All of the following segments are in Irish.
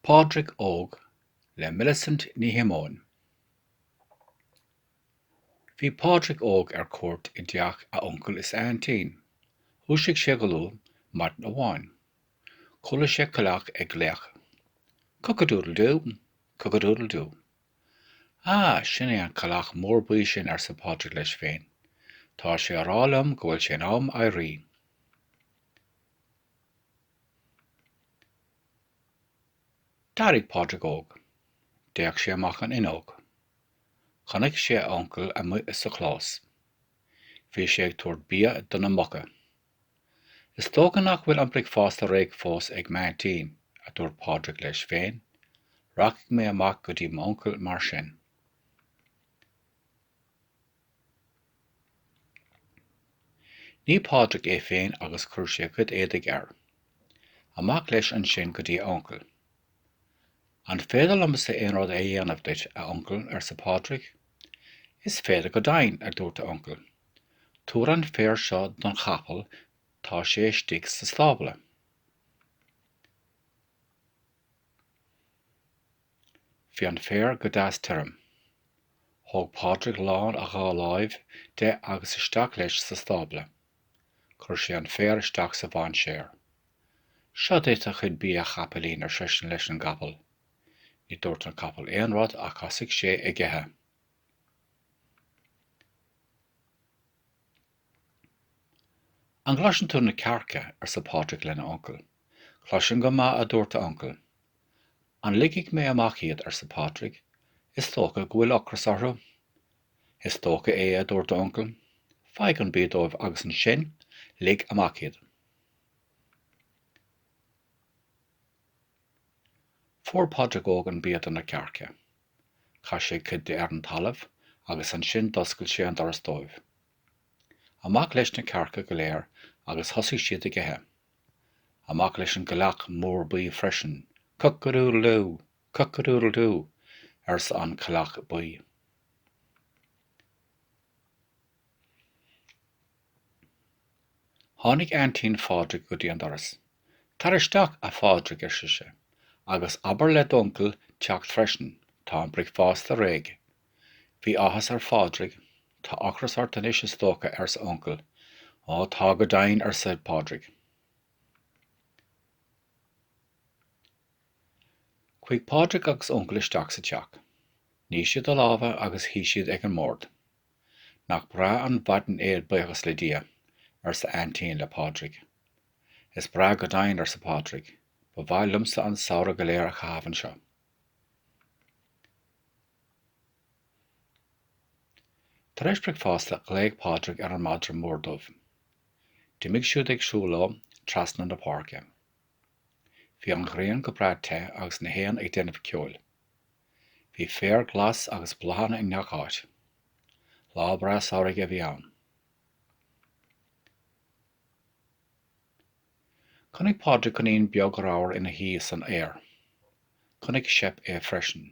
Pádraic Óg le Millicent Ní Shiomóin Bhí Pádraic Óg ar cuairt i dteach a uncail is a aintín. Dhúisigh sé go luath maidin amháin. Chuala sé coileach ag glaoch. Cock-a-doodle-do! Cock-a-doodle-do! Ah, sin é an coileach mór buí sin, arsa Pádraic leis féin. Tá sé a rá liom go bhfuil sé in am éirí. D'éirigh Pádraig óg. D'fhéach sé amach an fhuinneog. Chonaic sé a uncail amuigh sa chlós. Bhí sé ag tabhairt bia do na muca. Is dócha nach bhfuil an bricfeasta réidh fós ag m'aintín, a dúirt Pádraig leis féin, rachaidh mé amach go dtí m'uncail mar sin. Nigh Pádraig é féin agus chuir sé a chuid éadaigh air. Amach leis ansin go dtí a uncail. An féidir liomsa aon rud a dhéanamh duit, a uncail? arsa Pádraig. Is féidir go deimhin, a dúirt a uncail. Tabhair an féar seo don chapall, tá sé istigh sa stábla. Bhí an féar go deas tirim. Thóg Pádraig lán a dhá láimh de agus isteach leis sa stábla. Chuir sé an féar isteach sa mhainséar. Seo duit do chuid bia a chapaillín ar seisean leis an gcapall. Ní dúirt an capall aon rud ach thosaigh sé ag ithe. An gcloiseann tú na cearca arsa Pádraig lena uncail. Cloisim go maith, a dúirt a uncail. An ligfidh mé amach iad? arsa Pádraig. Is dócha go bhfuil ocras orthu. Is dócha é, a dúirt a uncail. Faigh an bia dóibh agus ansin lig amach iad. Fuair Pádraig Óg an bia do na cearca. Chaith sé cuid de ar an talamh agus ansin d'oscail sé an doras dóibh. Amach leis na cearca go léir agus thosaigh siad ag ithe. Amach leis an gcoileach mór buí freisin. Cock-a-doodle-doo! Cock-a-doodle-doo! arsa an coileach buí. Tháinig Aintín Phádraig go dtí an doras. Tar isteach, a Phádraig, ar sise. Agus abair le d'uncail teacht freisin. Tá an bricfeasta réidh. Bhí áthas ar Phádraig. Tá ocras ort anois is dócha, ars' a uncail. Ó, tá go deimhin, arsa Pádraig. Chuaigh Pádraig agus a uncail isteach sa teach. Nigh siad a lámha agus shuigh siad ag an mbord. Nach breá an mhaidin é buíochas le Dia, arsa a aintín le Pádraig. Is breá go deimhin, arsa Pádraig. Ba mhaith liomsa an samhradh go léir a chaitheamh anseo. Tar éis bricfeasta ghlaoigh Pádraig ar an madra mór dubh. D'imigh siad ag siúl leo trasna na páirce. Bhí an ghrian go brea te agus na héin ag déanamh ceoil. Bhí féar glas agus bláthanna i ngach áit. Lá breá samhraidh a bhí ann. Chonaic Pádraig coinín beag ramhar ina shuí san fhéar. Chonaic Seip é freisin.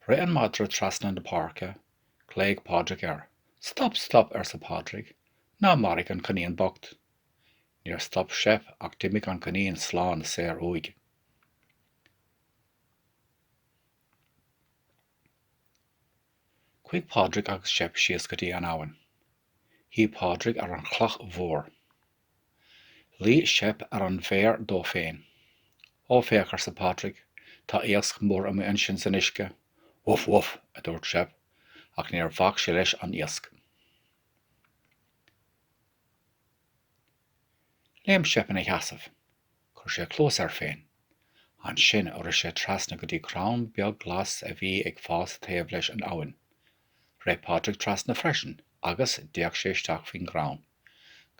Rith an madra trasna na páirce. Ghlaoigh Pádraig air. Stop, stop, arsa Pádraig, ná maraigh an coinín bocht. Níor stop Seip ach d'imigh an coinín slán saor uaidh. Chuaigh Pádraig agus Seip síos go dtí an abhainn. Shuigh Pádraig ar an chloch mhór. Luigh Seip ar an bhféar dó féin. Ó, féach, arsa Pádraig, tá iasc mór amuigh ansin san uisce. Bhuf, bhuf! a dúirt Seip, ach níor bhac sé leis an iasc. Léim Seip ina sheasamh. Chuir sé cluas air féin. Ansin rith sé trasna go dtí crann beag glas a bhí ag fás taobh leis an abhainn. Rith Pádraig trasna freisin agus d'fhéach sé isteach faoin gcrann.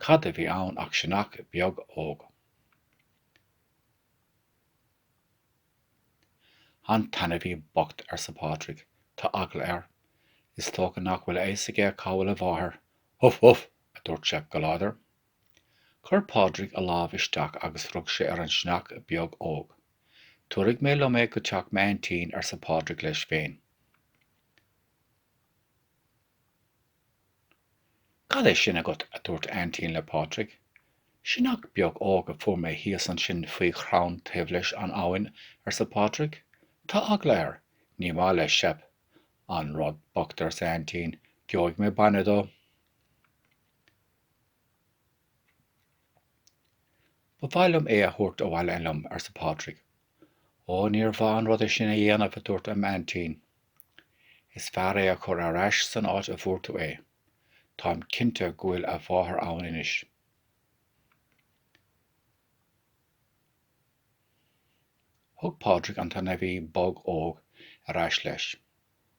Cad a bhí ann ach sionnach beag óg. An t-ainmhí bocht, arsa Pádraig. Tá eagla air. Is dócha nach bhfuil a fhios aige cá bhfuil a mháthair. Bhuf, bhuf! a dúirt Seip go láidir. Chuir Pádraig a lámh isteach agus rug sé ar an sionnach beag óg. Tabharfaidh mé liom é go teach m'aintín, arsa Pádraig leis féin. Cad é sin agat? a dúirt a aintín le Pádraig. Sionnach beag óg a fuair mé thíos ansin faoi chrann taobh leis an abhainn, arsa Pádraig. Tá eagla air. Ní maith leis Seip. An rud bocht, arsa a aintín. Gheobhaidh mé bainne dó. Ba mhaith liom é a thabhairt abhaile liom, arsa Pádraig. Ó, níor mhaith an rud é sin a dhéanamh, a dúirt a aintín. Is fearr é a chur ar ais san áit a bhfuair tú é. Táim cinnte go bhfuil a mháthair ann anois. Thug Pádraig an t-ainmhí beag óg ar ais leis.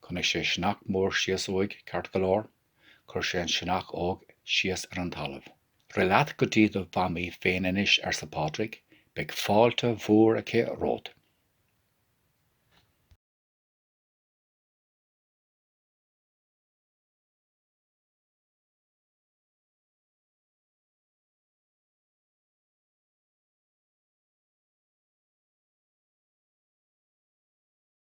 Chonaic sé sionnach mór síos uaidh ceart go leor. Chuir sé an sionnach óg síos ar an talamh. Rith leat go dtí do mhamaí féin anois, arsa Pádraig. Beidh fáilte mhór aici romhat.